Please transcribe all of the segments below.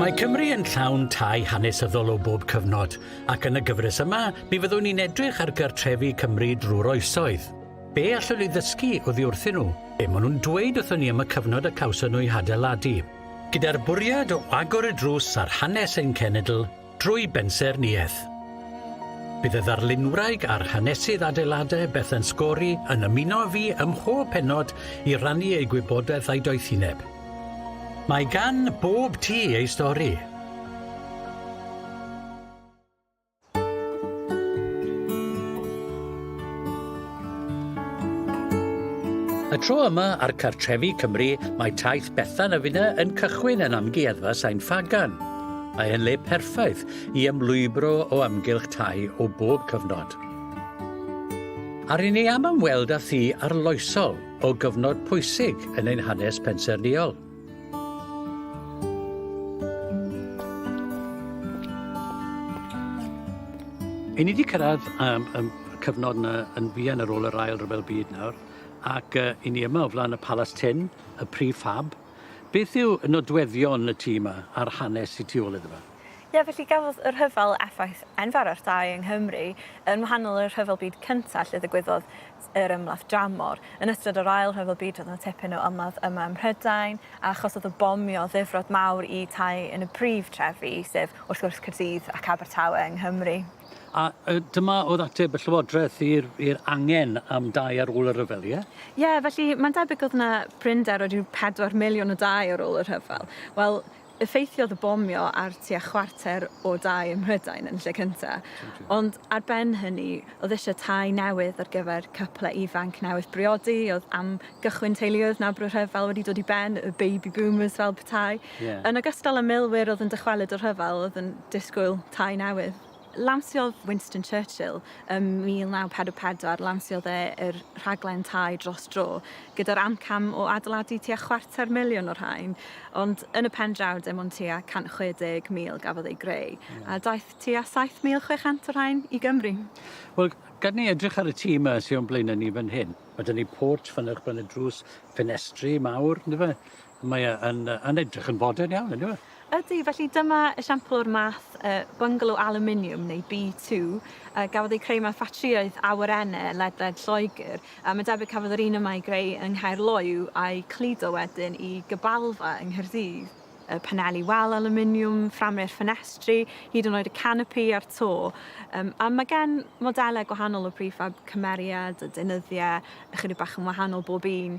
Mae Cymru yn llawn tai hanesyddol o bob cyfnod, ac yn y gyfres yma, mi fyddwn ni'n edrych ar gartrefi Cymru drwy'r oesoedd. Be allwn ni ddysgu oddi wrthyn nhw? Be maen nhw'n dweud wrthyn ni am y cyfnod y cawson nhw ei hadeiladu? Gyda'r bwriad o agor y drws ar hanes ein cenedl, Drwy bensaernïaeth. Bydd y ddarlunwraig a'r hanesydd adeiladau Bethan Scory yn ymuno â fi ym mhob pennod i rannu eu gwybodaeth a'i doethineb. Mae gan bob tŷ ei stori. Y tro yma ar Cartrefi Cymru, mae taith Bethan a finna yn cychwyn yn Amgueddfa Sain Ffagan. Mae e'n le perffaith i ymlwybro o amgylch tai o bob cyfnod. A ry'n ni am ymweld â thi arloesol o gyfnod pwysig yn ein hanes pensaernïol. Yn ni wedi cyrraedd um, um, cyfnod yna yn fuan ar ôl yr ail ryfel byd nawr, ac uh, i ni yma o flaen y Palas Tyn, y prif fab, Beth yw nodweddion y tŷ yma a'r hanes sy tu ôl iddo fe? Ie, felly gafodd y rhyfel effaith enfawr ar dai yng Nghymru. Yn wahanol i'r Rhyfel Byd Cyntaf lle ddigwyddodd yr ymladd dramor, yn ystod yr Ail Rhyfel Byd roedd 'na tipyn o ymladd yma ym Mhrydain a achosodd y bomio ddifrod mawr i tai yn y prif trefi, sef wrth gwrs Caerdydd ac Abertawe yng Nghymru. A yy dyma o'dd ateb y Llywodraeth i'r i'r angen am dai ar ôl y rhyfel ie? Ie felly mae'n debyg o'dd 'na prinder o ryw pedwar miliwn o dai ar ôl y rhyfel. Wel effeithiodd y bomio ar tua chwarter o dai ym Mhrydain yn lle cynta. Ond ar ben hynny o'dd isie tai newydd ar gyfer cyple ifanc newydd briodi, o'dd am gychwyn teuluoedd nawr bod y rhyfel wedi dod i ben, y baby boomers fel petai. Yn ogystal â milwyr oedd yn dychwelyd o'r rhyfel oedd yn disgwyl tai newydd. Lansiodd Winston Churchill ym 1944, lansiodd e yr rhaglen tai dros dro, gyda'r amcam o adeiladu tua chwarter miliwn o'r rhain, ond yn y pen draw dim ond tua 160,000 gafodd eu greu, a daeth tua 7,600 o'r rhain i Gymru. Wel, gad ni edrych ar y tŷ 'ma sy o'n blaena' ni fan hyn. Ma' 'da ni portsh fan 'na uwchben y drws, ffenestri mawr, yndyfe? Mae e yn yy yn edrych yn fodern iawn yndyw e? Ydy, felly dyma esiampl o'r math yy bungalow alwminiwm neu B2 yy gafodd eu creu mewn ffatrïaeth awyrenne ledled Lloegr a mae'n debyg cafodd yr un yma ei greu yng Nghaerloyw a'i cludo wedyn i Gybalfa yng Nghaerdydd. y paneli wal alwminiwm, fframau'r ffenestri, hyd yn oed y canopi a'r to. Um, a mae gen modelau gwahanol o prefab cymeriad a deunyddiau ychydig bach yn wahanol bob un,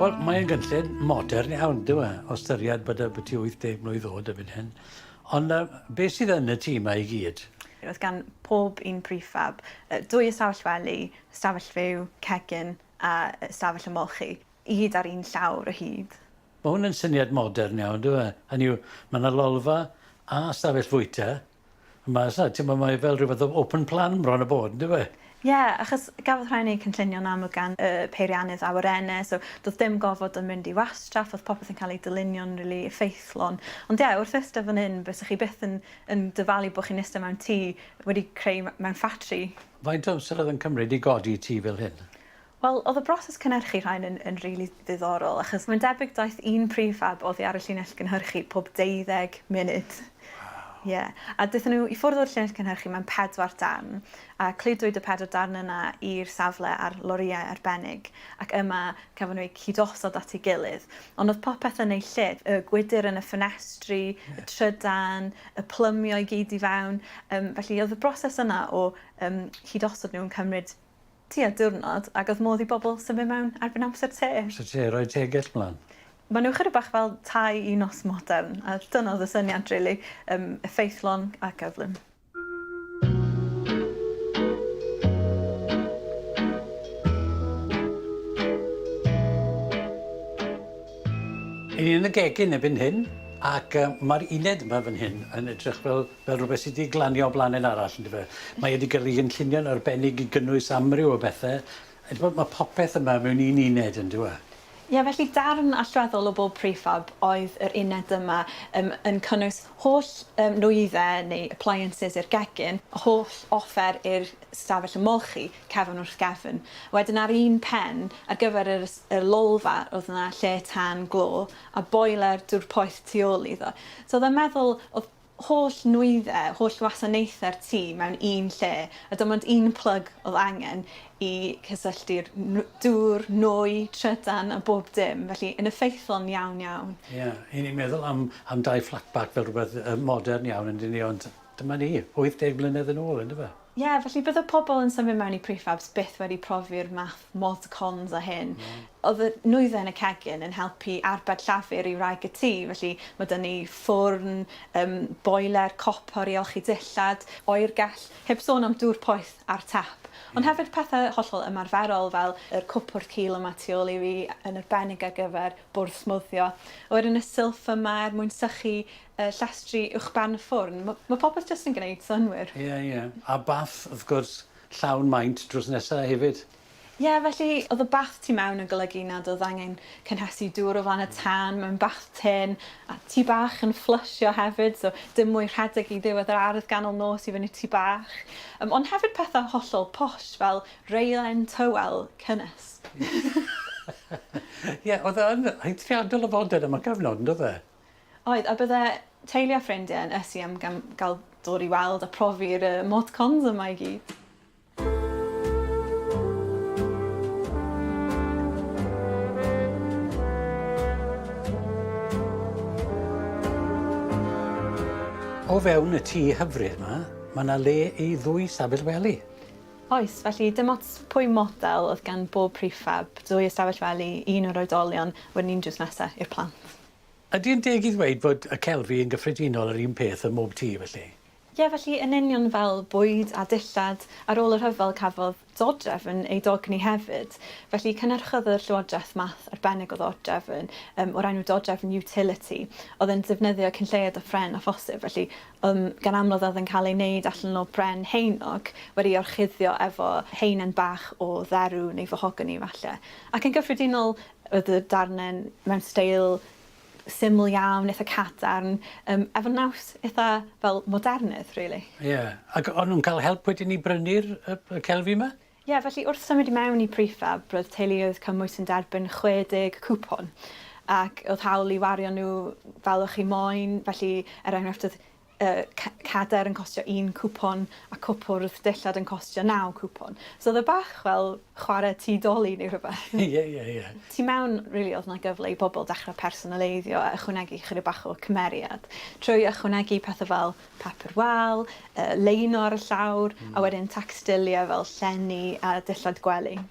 Wel, mae'n gynllun modern iawn, dyw e, o ystyried bod y byti 80 mlwydd oed erbyn hyn. Ond uh, beth sydd yn y tîm mae i gyd? Roedd gan pob un prefab dwy ystafell wely, ystafell fyw, cegin a ystafell ymolchi, i gyd ar un llawr o hyd. Mae hwn yn syniad modern iawn, dyw e? Hynny yw, mae yna lolfa a ystafell fwyta, Mae sa, ti'n ma mae fel rhywbeth o open plan bron a bod, yndyw e? Ie, achos gafodd rhai neud cynllunio'n amlwg gan y peiriannydd awyrenne, so do'dd dim gofod yn mynd i wastraff, o'dd popeth yn cael ei dylunio'n rili effeithlon. Ond ie, wrth iste fan 'yn, bysa chi byth yn yn dyfalu bo' chi'n iste mewn tŷ wedi creu mewn ffatri. Faint o amser o'dd yn cymryd i godi tŷ fel hyn? Wel, oedd y broses cynhyrchu rhain yn yn rili ddiddorol, achos mae'n debyg daeth un prif fab oddi ar y llinell gynhyrchu pob deuddeg munud. Waw! Ie. A daethon nhw i ffwrdd o'r llinell cynhyrchu mewn pedwar darn, a cludwyd y pedwar darn yna i'r safle ar lorïau arbennig, ac yma cafon nhw eu cyd-osod at ei gilydd. Ond oedd popeth yn ei lle, y gwydr yn y ffenestri, y trydan, y plymio i gyd i fewn, yym felly oedd y broses yna o yym cyd-osod nhw'n cymryd tua diwrnod ac oedd modd i bobl symud mewn erbyn amser te. Amser te, rhoi tegell mlan. Maen nhw chydig bach fel tai i nos modern a dyna oedd y syniad rili, yym effeithlon a gyflym. Yn un yn y gegin erbyn hyn ac yy ma'r uned 'ma fan hyn yn edrych fel fel rhywbeth sy 'di glanio o blaned arall on'd yfe? Mae e 'di gyrru gynllunio'n arbennig i gynnwys amryw o bethe a t'mod ma' popeth yma mewn un uned on'd yw e? Ie felly darn allweddol o bob prefab oedd yr uned yma yym yn cynnwys holl yym nwydde neu appliances i'r gegin, holl offer i'r stafell ymolchi, cefn wrth gefn. Wedyn ar un pen ar gyfer yr ys- y lolfa o'dd 'na lle tân glo a boiler dŵr poeth tu ôl iddo. So o'dd e'n meddwl o'dd holl nwyddau, holl wasanaethau'r tŷ mewn un lle a dim ond un plyg oedd angen i cysylltu'r n- dŵr, nwy, trydan a bob dim, felly yn effeithlon iawn iawn. Ie, i ni'n meddwl am am dai flatback fel rhywbeth yy modern iawn on'd 'yn ni ond dyma ni, 80 mlynedd yn ôl yndyfe? Ie, felly bydde pobl yn symud mewn i prefabs byth wedi profi'r math mod cons a hyn. Oedd y nwyddau yn y cegin yn helpu arbed llafur i wraig y tŷ, felly mae 'da ni ffwrn, yym, boeler, copor i olchi dillad, oergell, heb sôn am dŵr poeth a'r tap. Ond hefyd pethau hollol ymarferol fel yr cwpwrdd cul yma tu ôl i fi, yn arbennig ar gyfer bwrdd smwddio. A wedyn y silff yma er mwyn sychu y llestri uwchben y ffwrn. Ma, ma popeth jyst yn gneud synwyr. Ie, ie. A bath, wrth gwrs, llawn maint drws nesa hefyd. Ie, felly, oedd y bath tu mewn yn golygu nad oedd angen cynhesu dŵr o flan y tân mewn bath tun, a tŷ bach yn fflysio hefyd, so dim mwy rhedeg i ddiwedd yr ardd ganol nos i fyny tŷ bach. Yym, ond hefyd pethau hollol posh, fel reilen tywel cynnes. Ie, oedd e yn eithriadol o fodern am y cyfnod, yn doedd e? Oedd, a bydde teulu a ffrindiau yn ysu am gael dod i weld a profi'r motcons yma i gyd. O fewn y tŷ hyfryd 'ma, mae yna le i ddwy stafell wely. Oes, felly dim ots pwy model oedd gan bob prefab, dwy ystafell wely, un o'r oedolion, wedyn un drws nesaf i'r plant. Ydy yn deg i ddweud fod y celfi yn gyffredinol yr un peth ym mhob tŷ felly? Ie, felly yn union fel bwyd a dillad, ar ôl y rhyfel cafodd dodrefn ei dogni hefyd, felly cynhyrchodd y Llywodraeth math arbennig o ddodrefn yym o'r enw dodrefn utility, oedd yn defnyddio cyn lleied o phren â phosib, felly yym gan amlwg oedd yn cael ei wneud allan o bren heinoc wedi'i orchuddio efo haenen bach o dderw neu fahogani falle. Ac yn gyffredinol Roedd y darnen mewn steil syml iawn, eitha cadarn, yym efo naws eitha fel modernedd rili. Ie, ac o'n nhw'n cael help wedyn i brynu'r y celfi 'ma? Ie, felly wrth symud i mewn i Prefab, roedd teuluoedd cymwys yn derbyn 60 cwpwn, ac oedd hawl i wario nhw fel o'ch chi moyn, felly er enghraifft oedd y cadair yn costio un cwpwn a cwpwrdd dillad yn costio naw cwpwn. So oedd e bach fel chwarae tŷ doli neu rhywbeth. Ie, ie, ie. Tu mewn, rili, oedd 'na gyfle i bobl dechrau personaleiddio a ychwanegu chydig bach o cymeriad trwy ychwanegu pethe fel papur wal, yy leino ar y llawr, a wedyn tacstilie fel llenni a dillad gwely.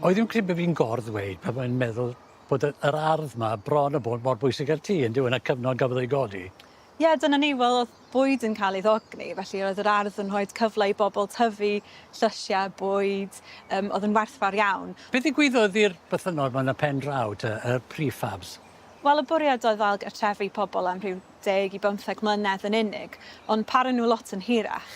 Wy ddim credu bo' fi'n gor-ddweud pan mae'n meddwl bod y yr ardd 'ma bron a bod mor bwysig â'r tŷ yndyw e yn y cyfnod gafodd ei godi. Ie dyna ni wel o'dd bwyd yn ca'l ei ddogni felly roedd yr ardd yn rhoid cyfle i bobol tyfu llysie bwyd yym o'dd yn werthfawr iawn. Be' ddigwyddodd i'r bythynnod 'ma yn y pen draw te y prefabs? Wel y bwriad oedd ail gartrefu pobol am rhyw deg i bymtheg mlynedd yn unig ond para nw lot yn hirach.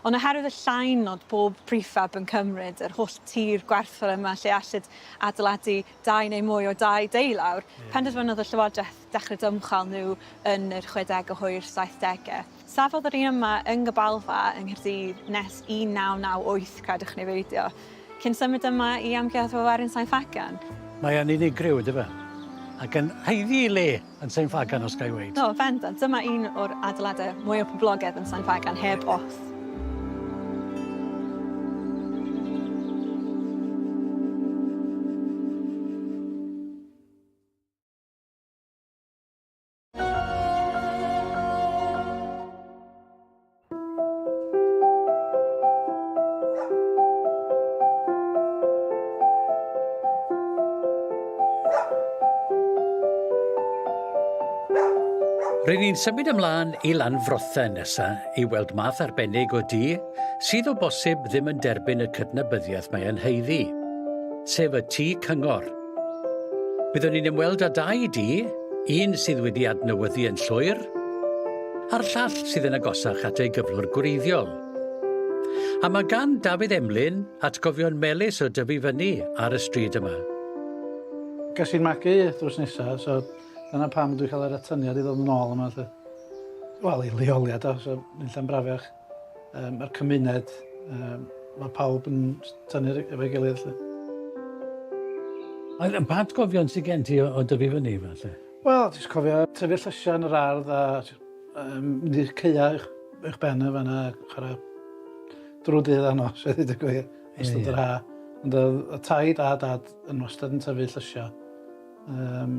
Ond oherwydd y llain nod bob prefab yn cymryd yr holl tir gwerthfawr yma lle allid adeiladu dau neu mwy o dai deulawr, penderfynodd y Llywodraeth dechrau dymchwel nhw yn yr chwedegau hwyr saithdegau. Safodd yr un yma yng Nghybalfa yng Nghaerdydd nes 1998, credwch neu beidio, cyn symud yma i Amgueddfa Werin Sain Ffagan. Mae o'n unigryw, yndyfe? Ac yn haeddu ei le! yn Sain Ffagan os ga i weud. O, bendant, dyma un o'r adeiladau mwya poblogedd yn Sain Ffagan, heb ots. Rydyn ni'n symud ymlaen i Lanfrothe nesa i weld math arbennig o du sydd o bosib ddim yn derbyn y cydnabyddiaeth mae e'n heiddi, sef y tu cyngor. Byddwn ni'n ymweld â dau du, un sydd wedi adnewyddu yn llwyr, a'r llall sydd yn agosach at ei gyflwr gwreiddiol. A mae gan Dafydd Emlyn atgofion melys o dyfu fyny ar y stryd yma. Ges i'n magu drws nesa, so dyna pam dwi'n cael yr atyniad i ddod yn ôl yma 'lly. Wel, i leoliad o, so nunlla'n braf iach. Yy ma'r cymuned yy ma' pawb yn tynnu ry- efo'i gilydd 'lly. A yy pa atgofion sy gen ti o o dyfu fyny falle? Wel jyst cofio tyfu llysia yn yr ardd a jy- yym mynd i'r caea' uwch uwch ben yn fanna a chwara drw'r dydd a nos a ddeud y gwir. Ie ie. Ystod yr ha'. Ond o'dd y taid a dad yn wastad yn tyfu llysio yym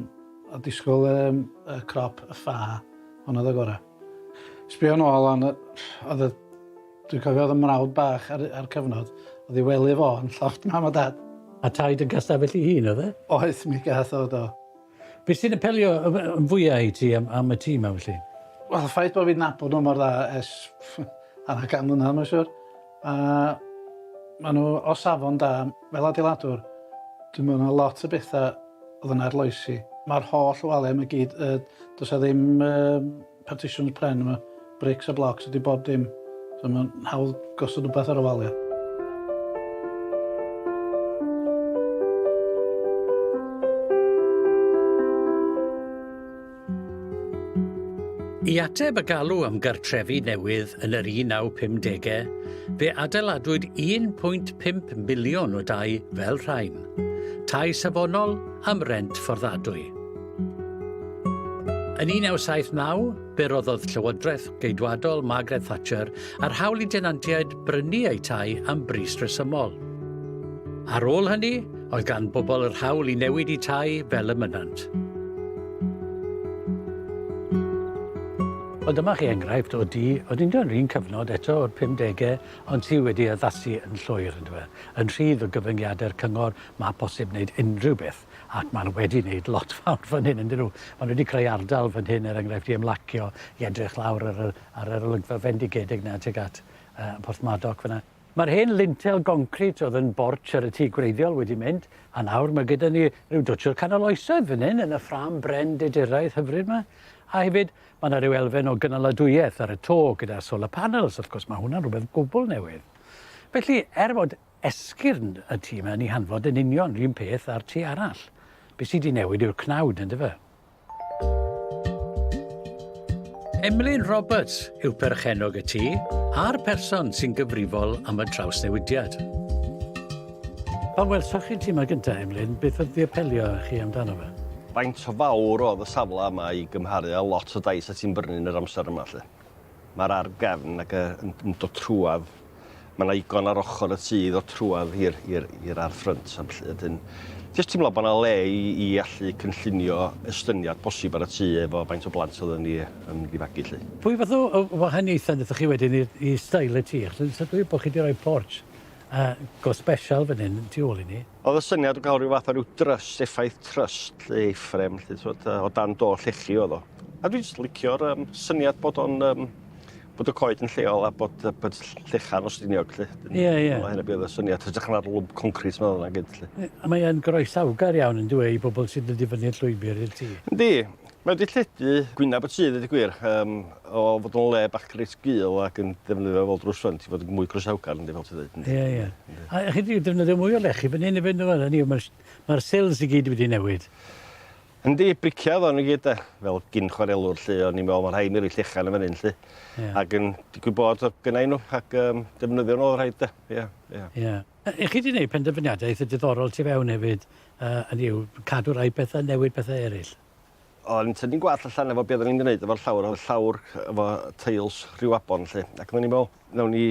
a disgwl yym y crop y ffa honno o'dd y gora. Sbio nôl lan yy o'dd y dwi'n cofio o'dd 'y mrawd bach ar y a'r cyfnod o'dd 'i wely fo yn llofft mam a dad. A taid yn ga'l stafell 'i hun o'dd e? Oedd mi gath o do. Be' sy'n apelio yy yy yn fwya i ti am am y tŷ 'ma felly? Wel y ffaith bo' fi'n nabod o mor dda ers hanner can mlynadd ma' siŵr. A maen nhw o safon da. Fel adeiladwr, dwi'n meddwl na lot o bethau oedd yn arloesi. Mae'r holl waliau yma i gyd, yy does 'na ddim yym partitions pren yma, brics a blocs ydy bob dim, so mae'n hawdd gosod rywbeth ar y waliau. I ateb y galw am gartrefi newydd yn yr 1950au, fe adeiladwyd 1.5 miliwn o dai fel rhain, tai safonol am rent fforddadwy. Yn 1979, fe roddodd Llywodraeth Geidwadol Margaret Thatcher a'r hawl i denantiaid brynu eu tai am bris resymol. Ar ôl hynny, Oedd gan bobl yr hawl i newid i tai fel y mynant. Ond dyma chi enghraifft o du, oedd yn yr un cyfnod eto o'r 50au, ond sydd wedi addasu yn llwyr, yn dweud, yn rhydd o gyfyngiadau'r cyngor, mae posib wneud unrhyw beth, ac maen nhw wedi wneud lot fawr fan hyn, ydyn nhw. Maen nhw wedi creu ardal fan hyn, er enghraifft, i ymlacio, i edrych lawr ar, ar yr olygfa fendigedig na tuag at uh, Porthmadog fyna. Mae'r hen lintel goncrit oedd yn bortsh ar y tŷ gwreiddiol wedi mynd, a nawr mae gyda ni rhyw dwtsh o'r canol oesoedd fan hyn yn y ffrâm bren diduraidd hyfryd 'ma. A hefyd, mae 'na ryw elfen o gynaladwyeth ar y to gyda solar panels, wrth gwrs, mae hwnna'n rhywbeth gwbl newydd. Felly, er fod esgyrn y tŷ 'ma yn ei hanfod yn union 'r un peth â'r tŷ arall, be sy 'di newid yw'r cnawd, yndyfe? Emlyn Roberts yw perchennog y tŷ a'r person sy'n gyfrifol am y trawsnewidiad. Pan welsoch chi ti 'ma gynta, Emlyn, beth oedd 'di apelio â chi amdano fe? Faint o fawr oedd y safle yma i gymharu â lot o dais o ti'n brynu yn yr amser yma 'lly? Mae'r ar gefn ac yn yn dod trwad. Mae yna igon ar ochr y tŷ i ddod trwad i'r i'r i'r ar ffrynt a felly ydyn jyst teimlo bod yna le i i allu cynllunio estyniad posib ar y tŷ efo faint o blant oedden ni yn mynd i fagu 'lly. Pwy fath o o wahaniaethau nathoch chi wedyn i'r i steil y tŷ achos dwi'n sylwi bo' chi 'di roi porch A go special fan hyn, tu ôl i ni. O'dd y syniad o ga'l ryw fath o ryw dryst, effaith tryst 'lly, Eifrem 'lly t'mod yy o dan do llechi o'dd o. A dwi jyst licio'r yym syniad bod o'n yym bod y coed yn lleol a bod yy bod ll- llecha'n Ffestiniog 'lly. Ie ie. Dyna hynna be' o'dd y syniad hytrach na'r lwmp concrit 'ma o'dd yna gyd 'lly. Yy a mae yn groesawgar iawn yndyw e i bobol sy'n dod i fyny'r llwybyr i'r tŷ? Yndi. Mae wedi lledu gwyneb y tŷ, ddeud y gwir, yym, o fod o'n le bach reit gul ac yn defnyddio fel drws ffrynt i fod yn mwy croesawgar, yndi, fel ti'n ddeud, yndi. Ie, ie. Yndi. A chi wedi defnyddio mwy o lechi fan hyn efyd, yndyfe? Hynny yw, mae'r mae'r sills i gyd wedi newid. Yndi, briciau oedden nhw i gyd, de. Fel gyn chwarelwr, lly, o'n i'n meddwl, mae rhaid mi roi llechan yn fan hyn, lly. Ie. Ac yn digwydd bod, oedd gynnau nhw, ac um, defnyddio nhw oedd rhaid, de. Ie, ie. Ie. Ych chi wedi gwneud penderfyniadau eitha diddorol tu fewn hefyd, hynny yw, cadw rhai pethau, newid pethau eraill? O'n i'n tynnu gwallt allan efo be' oddan ni'n gneud efo'r llawr, o'dd llawr efo teils rhyw afon 'lly, ac oddan ni'n me'wl, nawn ni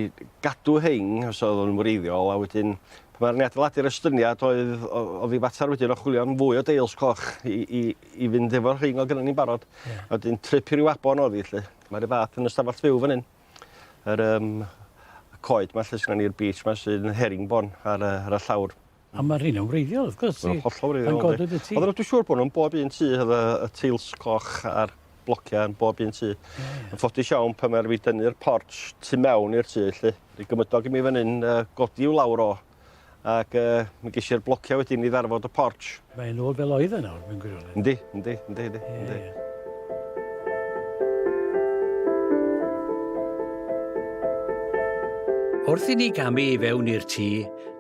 gadw rhein os oddwn nw'n wreiddiol, a wedyn pan ddaru ni adeiladu'r estyniad oedd o- o'dd 'i fatar wedyn o chwilio am fwy o deils coch i i i fynd efo'r rhein o'dd gynnon ni'n barod. Ie. A wedyn trip i ryw afon o'dd 'i 'lly. Mae 'r un fath yn y stafall fyw fan 'yn. yr um, y coed ma lle sy'n ni'r beach ma sy'n yn herringbon ar, uh, ar y llawr. A mae'r rhywun yn wreiddiol, wrth gwrs. Mae'n hollol wreiddiol. Mae'n godwyd y tŷ. Ond dwi'n siŵr bod nhw'n bob un tŷ, oedd y, y teils coch a'r blociau yn bob un tŷ. Yeah. Yn ffodus iawn pan mae'r fi dynnu'r porch tu mewn i'r tŷ, lle. Rhi gymydog i mi fan hyn, uh, godi i'w lawr o. ac yy mi gesh i'r blocia wedyn i ddarfod y portsh. Mae'n ôl fel oedd e nawr mewn gwirionedd. Yndi, yndi, yndi, yndi. Ie, yndi. Ie. Wrth i ni gamu i fewn i'r tŷ,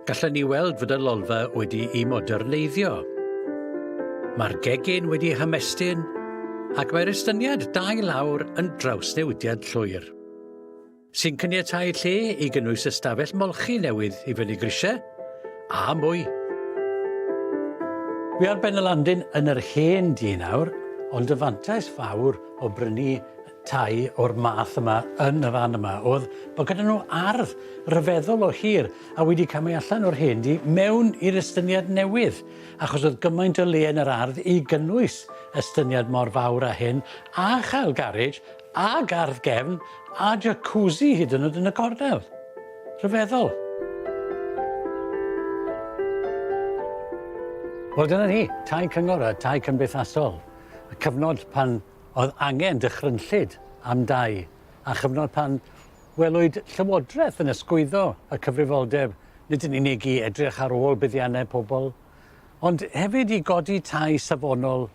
gallwn ni weld fod y lolfa wedi i moderneiddio. Mae'r gegin wedi hymestyn ac mae'r estyniad dau lawr yn drawsnewidiad llwyr. sy'n caniatáu lle i gynnwys ystafell molchi newydd i fyny grisiau a mwy. Wi ar ben y landin yn yr hen dŷ nawr, ond y fantais fawr o brynu tai o'r math yma yn y fan yma oedd bod gyda nhw ardd ryfeddol o hir a wedi camu allan o'r hen dŷ mewn i'r estyniad newydd, achos oedd gymaint o le yn yr ardd i gynnwys estyniad mor fawr â hyn a chael garej A gardd gefn a jacuzzi hyd yn oed yn y cornel. Rhyfeddol. Wel dyna ni, tai cyngor a tai cymdeithasol. Y cyfnod pan oedd angen dychrynllyd am dai a chyfnod pan welwyd Llywodraeth yn ysgwyddo y cyfrifoldeb nid yn unig i edrych ar ôl buddiannau pobl ond hefyd i godi tai safonol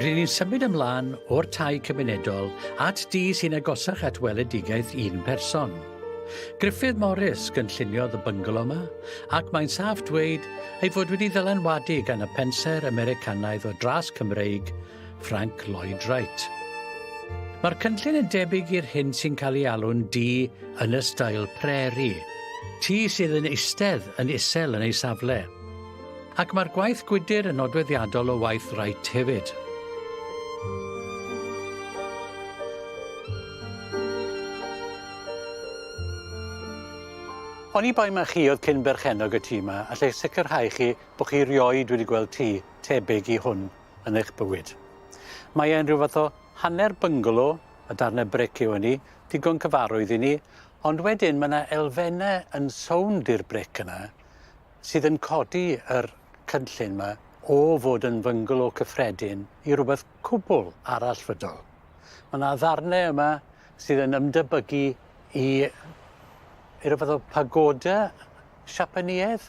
Ry'n ni'n symud ymlaen o'r tai cymunedol at du sy'n agosach at weledigaeth un person. Griffith Morris gynlluniodd y byngalo yma, ac mae'n saff dweud ei fod wedi ddylanwadu gan y pensaer Americanaidd o dras Cymreig, Frank Lloyd Wright. Mae'r cynllun yn debyg i'r hyn sy'n cael ei alw'n du yn y stael preri, tu sydd yn eistedd yn isel yn ei safle. Ac mae'r gwaith gwydr yn nodweddiadol o waith Wright hefyd. Oni bai mae chi oedd cyn berchennog y tŷ yma, allai sicrhau chi bod chi rioed wedi gweld tŷ tebyg i hwn yn eich bywyd. Mae e'n rhyw fath o hanner byngalo, y darnau bric yw hynny, digon cyfarwydd i ni, ond wedyn mae yna elfennau yn sownd i'r bric yna, sydd yn codi yr cynllun 'ma o fod yn fyngalo cyffredin i rwbeth cwbwl arallfydol. Ma' 'na ddarne yma sydd yn ymdebygu i i ryw fath o pagoda Siapaneaidd,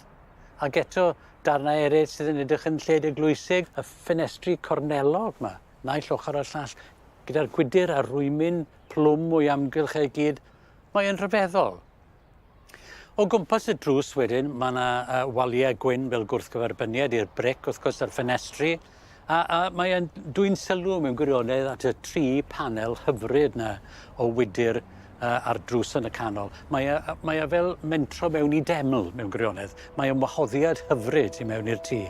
ac eto darnau eryll sydd yn edrych yn lled eglwysig, y ffenestri cornelog 'ma, naill ochor a'r llall, gyda'r gwydyr a rwymyn plwm o'i amgylch e i gyd, mae e'n rhyfeddol. O gwmpas y drws wedyn mae yna uh, waliau gwyn fel gwrthgyferbyniad i'r bric wrth gwrs a'r ffenestri a, a mae e'n dwy'n sylw mewn gwirionedd at y tri panel hyfryd yna o wydr uh, a'r drws yn y canol. Mae e, mae e fel mentro mewn i deml mewn gwirionedd. Mae e'n wahoddiad hyfryd i mewn i'r tŷ.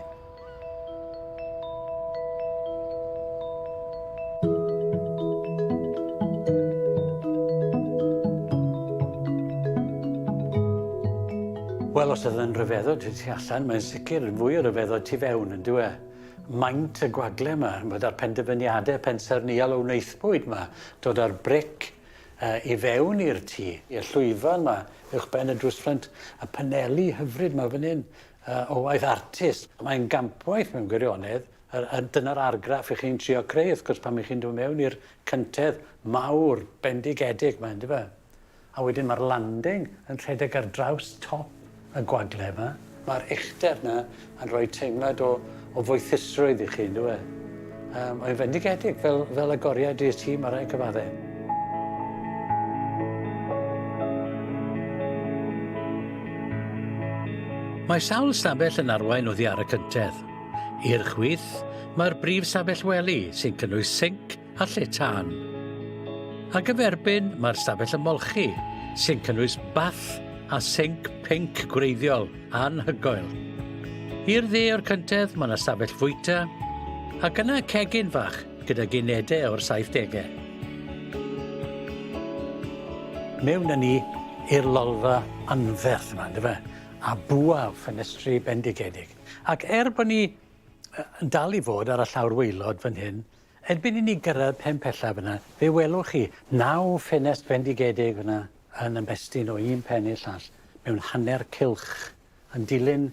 Wel, os ydy'n rhyfeddod tu ti allan, mae'n sicr yn fwy o rhyfeddod tu fewn, yn dweud. E? Maint y gwagle yma, bod ar penderfyniadau pensaerniol o wnaethbwyd yma, dod ar bric uh, i fewn i'r tŷ, i'r llwyfan yma, uwch ben y drwsffrynt, y paneli hyfryd yma fan hyn, Yy o waith artist. Mae'n gampwaith mewn gwirionedd. Yr yy dyna'r argraff 'ych chi'n trio creu wrth gwrs pan 'ych chi'n dod mewn i'r cyntedd mawr bendigedig 'ma yndyfe? A wedyn ma'r landing yn rhedeg ar draws top y gwagle 'ma. Ma'r uchder 'na yn rhoi teimlad o o foethusrwydd i chi, yndyw e? Um, mae'n fendigedig fel, fel agoriad i'r tîm ar ei cyfaddau. Mae sawl stabell yn arwain oddi ar y cyntedd. I'r chwith, mae'r brif stabell wely sy'n cynnwys sinc, a lle tân. A gyferbyn, mae'r stafell ymolchi, sy'n cynnwys bath a sinc pinc gwreiddiol anhygoel. I'r dde o'r cyntedd mae yna stafell fwyta, ac yna cegin fach gyda ginedau o'r 70au. Mewn â ni i'r lolfa anferth yma, ynddo fe? a bwa ffenestri bendigedig. Ac er bod ni yn dal i fod ar y llawr waelod fan hyn, Erbyn i ni gyrraedd pen pella fyna, fe welwch chi naw ffenest fendigedig fyna yn ymestyn o un pen i'r llall mewn hanner cylch, yn dilyn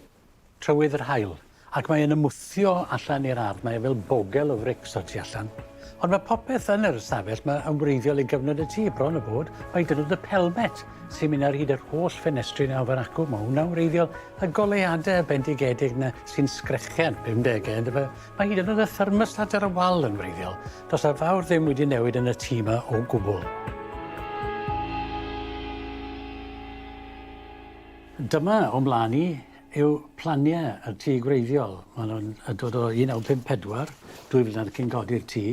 trywydd yr haul, ac mae e'n ymwthio allan i'r ardd, mae e fel bogel o frics o'r tu allan. Ond mae popeth yn yr ystafell 'ma yn wreiddiol i gyfnod y tŷ, bron a bod mai dyna oedd y pelmet sy'n mynd ar hyd yr holl ffenestri 'na o fan acw, mae hwnna'n wreiddiol, y goleuadau bendigedig 'na sy'n sgrechian, pumdegau, yndyfe? Mae hyd yn oed y thermostat ar y wal yn wreiddiol. Does na fawr ddim wedi newid yn y tŷ yma o gwbl. Dyma o mlaen i yw planiau y tŷ gwreiddiol. Mae nhw'n yn dod o 1954, dwy flynedd cyn codi'r tŷ,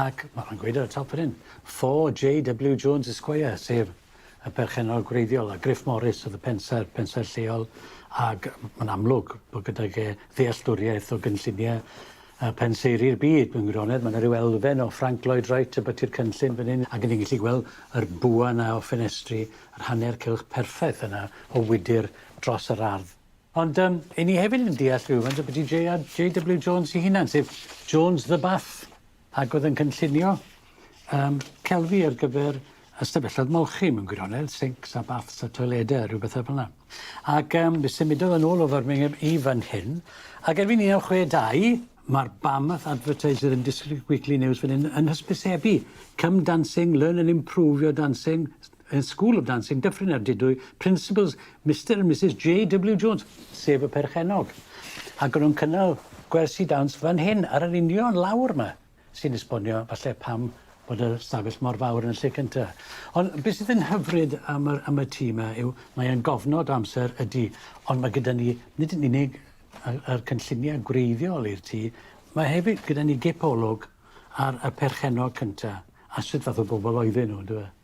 ac mae nhw'n gweud ar y top fan hyn, 4 JW Jones Esquire, sef y perchennog gwreiddiol, a Griff Morris oedd y pensaer, pensaer lleol, ac mae'n amlwg bod gydag e ddealltwriaeth o gynlluniau uh, penseiri'r byd. Mewn gwirionedd, mae yna rhyw elfen o Frank Lloyd Wright y byty'r cynllun fan hyn, ac ni'n gallu gweld yr bwa yna o ffenestri, yr hanner cylch perffaith yna o wydr dros yr ardd. Ond um, i ni hefyd yn deall rhywfaint o beth i JW Jones i hunan, sef Jones the Bath. Ac oedd yn cynllunio yym celfi ar gyfer ystafelloedd molchi mewn gwirionedd, sinks a baths a toilede a ryw bethe fel 'na. Ac yym fe symudodd yn ôl o Firmingham i fan hyn ac erbyn un naw chwe dau ma'r Barmouth Advertiser and District Weekly News fan 'yn yn hysbysebu come dancing, learn and improve your dancing. yn School of Dancing, Dyffryn Ardudwy, Principals, Mister and Misus JW Jones, sef y perchennog. Ac o'n nhw'n cynnal gwersi dawns fan hyn, ar yr union lawr 'ma, sy'n esbonio falle pam bod y stafell mor fawr yn y lle cynta. Ond beth sydd yn hyfryd am y, am y tîm 'ma yw mae e'n gofnod o amser, ydy, ond mae gyda ni nid yn unig yr cynlluniau gwreiddiol i'r tŷ, mae hefyd gyda ni gipolwg ar y perchennog cynta, a sut fath o bobl oedden nhw, yndyfe?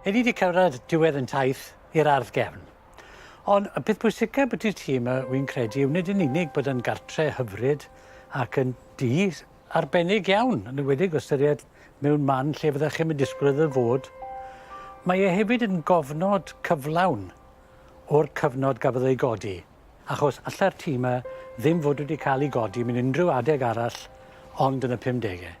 Ydy wedi cyrraedd diwedd yn taith i'r ardd gefn. Ond y peth pwysicaf byddu ti yma, wy'n credu, yw nid yn unig bod yn gartre hyfryd ac yn du arbennig iawn, yn ywedig o ystyried mewn man lle fydda chi'n disgwyl iddo fod, mae e hefyd yn gofnod cyflawn o'r cyfnod gafodd ei godi, achos allai'r tŷ yma ddim fod wedi cael ei godi mewn unrhyw adeg arall ond yn y 50au.